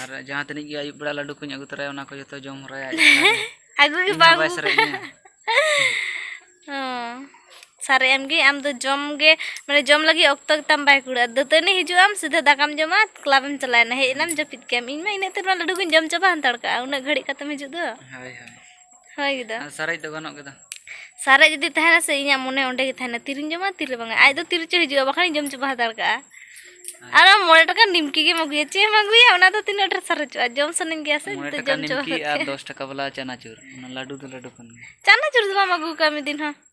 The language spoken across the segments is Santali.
ᱟᱨ ᱡᱟᱦᱟᱸ ᱛᱤᱱᱟᱹᱜ ᱜᱮ ᱟᱹᱭᱩᱵ ᱵᱮᱲᱟ ᱞᱟᱹᱰᱩ ᱠᱚᱧ ᱟᱹᱜᱩ ᱛᱚᱨᱟᱭᱟ ᱚᱱᱟ ᱠᱚ ᱡᱚᱛᱚ ᱡᱚᱢ ᱦᱚᱨᱟᱭᱟ ᱟᱹᱜᱩ ᱜᱮ ᱵᱟᱝ ᱵᱟᱭ ᱥᱟᱨᱮᱡ ᱤᱧᱟ ᱥᱟᱨᱮᱡ ᱮᱢ ᱜᱮ ᱟᱢ ᱫᱚ ᱡᱚᱢ ᱜᱮ ᱢᱟᱱᱮ ᱡᱚᱢ ᱞᱟᱹᱜᱤᱫ ᱚᱠᱛᱚ ᱛᱟᱢ ᱵᱟᱭ ᱠᱩᱲᱟᱹᱜᱼᱟ ᱫᱟᱹᱛᱟᱹᱱᱤ ᱦᱤᱡᱩᱜ ᱟᱢ ᱥᱤᱫᱷᱟᱹ ᱫᱟᱠᱟᱢ ᱡᱚᱢᱟ ᱠᱞᱟᱵ ᱮᱢ ᱪᱟᱞᱟᱣᱮᱱᱟ ᱦᱮᱡ ᱮᱱᱟᱢ ᱡᱟᱹᱯᱤᱫ ᱠᱮᱫᱟᱢ ᱤᱧ ᱢᱟ ᱤᱱᱟᱹᱜ ᱛᱮ ᱱᱚᱣᱟ ᱞᱟᱹᱰᱩ ᱠᱚᱧ ᱡᱚᱢ ᱪᱟᱵᱟ ᱦᱟᱱᱛᱟᱲ ᱠᱟᱜᱼᱟ ᱩᱱᱟᱹᱜ ᱜᱷᱟᱹᱲᱤᱡ ᱠᱟᱛᱮᱢ ᱦᱤᱡᱩᱜ ᱫᱚ ᱦᱳᱭ ᱦᱳᱭ ᱦᱳᱭ ᱜᱮᱫᱟ ᱟᱨ ᱥᱟᱨᱮᱡ ᱫᱚ ᱜᱟᱱᱚᱜ ᱜᱮᱫᱟ ᱥᱟᱨᱮᱡ ᱡᱩᱫᱤ ᱛᱟᱦᱮᱱᱟ ᱥᱮ ᱤᱧᱟᱹᱜ ᱢᱚᱱᱮ ᱚᱸᱰᱮ ᱜᱮ ᱛᱟᱦᱮᱱᱟ ᱛᱤᱨᱤᱧ ᱡᱚᱢᱟ ᱛᱤᱨᱮ ᱵᱟᱝᱟ ᱟᱡ ᱫᱚ ᱛᱤᱨᱮ ᱪᱚ ᱦᱤᱡᱩᱜᱼᱟ ᱵᱟᱠᱷᱟᱱ ᱡᱚᱢ ᱪᱟᱵᱟ ᱦᱟᱛᱟᱲ ᱠᱟᱜᱼᱟ ᱟᱨ ᱟᱢ ᱢᱚᱬᱮ ᱴᱟᱠᱟ ᱱᱤᱢᱠᱤ ᱜᱮᱢ ᱟᱹᱜᱩᱭᱟ ᱪᱮᱫ ᱮᱢ ᱟᱹᱜᱩᱭᱟ ᱚᱱᱟ ᱫᱚ ᱛᱤᱱᱟᱹᱜ ᱰᱷᱮᱨ ᱥᱟᱨᱮᱡᱚᱜᱼᱟ ᱡᱚᱢ ᱥᱟᱱᱟᱧ ᱜᱮᱭᱟ ᱥᱮ ᱢᱚᱬᱮ ᱡᱩᱫᱤ ᱴᱟᱠᱟ ᱡᱚᱢ ᱪᱟᱵᱟ ᱱᱤᱢᱠᱤ ᱟᱨ ᱫᱚᱥ ᱴᱟᱠᱟ ᱵᱟᱞᱟ ᱪᱟᱱᱟᱪᱩᱨ ᱚᱱᱟ ᱞᱟᱹᱰᱩ ᱫᱚ ᱞᱟᱹᱰᱩ ᱠᱟᱱ ᱜᱮᱭᱟ ᱪᱟᱱᱟᱪᱩᱨ ᱫᱚ ᱵᱟᱢ ᱟᱹᱜᱩ ᱠᱟᱜᱼᱟ ᱢᱤᱫ ᱫᱤᱱ ᱦᱚᱸ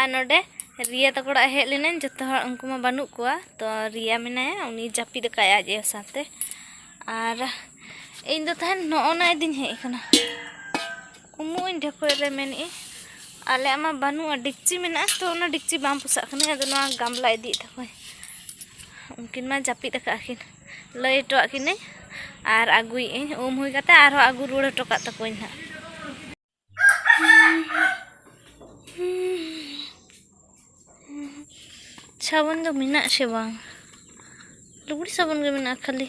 ᱟᱨ ᱱᱚᱸᱰᱮ ᱨᱤᱭᱟ ᱛᱟᱠᱚ ᱚᱲᱟᱜ ᱦᱮᱡ ᱞᱮᱱᱟᱹᱧ ᱡᱚᱛᱚ ᱦᱚᱲ ᱩᱱᱠᱩ ᱢᱟ ᱵᱟᱹᱱᱩᱜ ᱠᱚᱣᱟ ᱛᱚ ᱨᱤᱭᱟ ᱢᱮᱱᱟᱭᱟ ᱩᱱᱤ ᱡᱟᱹᱯᱤᱫ ᱟᱠᱟᱫᱟᱭ ᱟᱡ ᱟᱭᱳ ᱥᱟᱶᱛᱮ ᱟᱨ ᱤᱧ ᱫᱚ ᱛᱟᱦᱮᱱ ᱱᱚᱜᱼᱚ ᱱᱟ ᱤᱫᱤᱧ ᱦᱮᱡ ᱟᱠᱟᱱᱟ ᱩᱢᱩᱜ ᱤᱧ ᱰᱷᱮᱠᱚᱡ ᱨᱮ ᱢᱮᱱᱮᱜ ᱤᱧ ᱟᱞᱮᱭᱟᱜ ᱢᱟ ᱵᱟᱹᱱᱩᱜᱼᱟ ᱰᱮᱠᱪᱤ ᱢᱮᱱᱟᱜᱼᱟ ᱛᱚ ᱚᱱᱟ ᱰᱮᱠᱪᱤ ᱵᱟᱝ ᱯᱚᱥᱟᱜ ᱠᱟᱱᱟ ᱟᱫᱚ ᱱᱚᱣᱟ ᱜᱟᱢᱞᱟ ᱤᱫᱤᱭᱮᱫ ᱛᱟᱠᱚᱣᱟᱹᱧ ᱩᱱᱠᱤᱱ ᱢᱟ ᱡᱟᱹᱯᱤᱫ ᱟᱠᱟᱫ ᱠᱤᱱ ᱞᱟᱹᱭ ᱦᱚᱴᱚᱣᱟᱜ ᱠᱤᱱᱟᱹᱧ ᱟᱨ ᱟᱹᱜᱩᱭᱮᱜ ᱟᱹᱧ ᱩᱢ ᱦᱩᱭ ᱠᱟᱛᱮ ᱟᱨᱦᱚᱸ ᱟᱹᱜᱩ ᱨᱩᱣᱟᱹᱲ ᱦᱚᱴᱚ ᱠᱟᱜ ᱛᱟᱠᱚᱣᱟᱹᱧ ᱦᱟᱸᱜ ᱥᱟᱵᱚᱱ ᱫᱚ ᱢᱮᱱᱟᱜ ᱥᱮ ᱵᱟᱝ ᱞᱩᱜᱽᱲᱤ ᱥᱟᱵᱚᱱ ᱜᱮ ᱢᱮᱱᱟᱜᱼᱟ ᱠᱷᱟᱹᱞᱤ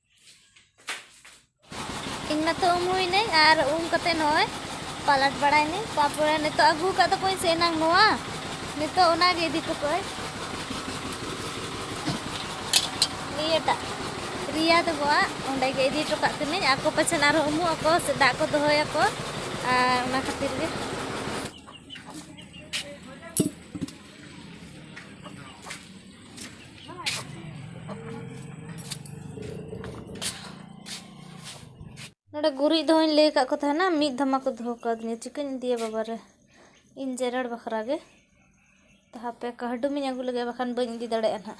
ᱤᱧ ᱢᱟᱛᱚ ᱩᱢ ᱦᱩᱭᱱᱟᱹᱧ ᱟᱨ ᱩᱢ ᱠᱟᱛᱮ ᱱᱚᱜᱼᱚᱭ ᱯᱟᱞᱟᱴ ᱵᱟᱲᱟᱭᱱᱟᱹᱧ ᱛᱟᱯᱚᱨᱮ ᱱᱤᱛᱚᱜ ᱟᱹᱜᱩ ᱟᱠᱟᱫ ᱛᱟᱠᱚᱣᱟᱹᱧ ᱥᱮ ᱮᱱᱟᱝ ᱱᱚᱣᱟ ᱱᱤᱛᱚᱜ ᱚᱱᱟᱜᱮ ᱤᱫᱤ ᱦᱚᱴᱚ ᱠᱟᱜᱼᱟᱹᱧ ᱱᱤᱭᱟᱹᱴᱟᱜ ᱨᱤᱭᱟ ᱛᱟᱠᱚᱣᱟᱜ ᱚᱸᱰᱮ ᱜᱮ ᱤᱫᱤ ᱦᱚᱴᱚ ᱠᱟᱜ ᱠᱟᱹᱱᱟᱹᱧ ᱟᱠᱚ ᱯᱟᱪᱷᱮᱱ ᱟᱨᱦᱚᱸ ᱩᱢᱩᱜ ᱟᱠᱚ ᱥᱮ ᱫᱟᱜ ᱠᱚ ᱫᱚᱦᱚᱭᱟᱠᱚ ᱟᱨ ᱚᱱᱟ ᱠᱷᱟᱹᱛᱤᱨ ᱜᱮ ᱱᱚᱰᱮ ᱜᱩᱨᱤᱡ ᱫᱚᱦᱚᱧ ᱞᱟᱹᱭ ᱟᱠᱟᱫ ᱠᱚ ᱛᱟᱦᱮᱱᱟ ᱢᱤᱫ ᱫᱷᱟᱢᱟ ᱠᱚ ᱫᱚᱦᱚ ᱠᱟᱣᱫᱤᱧᱟ ᱪᱤᱠᱟᱹᱧ ᱤᱫᱤᱭᱟ ᱵᱟᱵᱟᱨᱮ ᱤᱧ ᱡᱮᱨᱮᱲ ᱵᱟᱠᱷᱨᱟ ᱜᱮ ᱛᱚ ᱦᱟᱯᱮ ᱠᱟᱹᱦᱰᱩᱢᱤᱧ ᱟᱹᱜᱩ ᱞᱮᱜᱮ ᱵᱟᱠᱷᱟᱱ ᱵᱟᱹᱧ ᱤᱫᱤ ᱫᱟᱲᱮᱭᱟᱜᱼᱟ ᱱᱟᱦᱟᱜ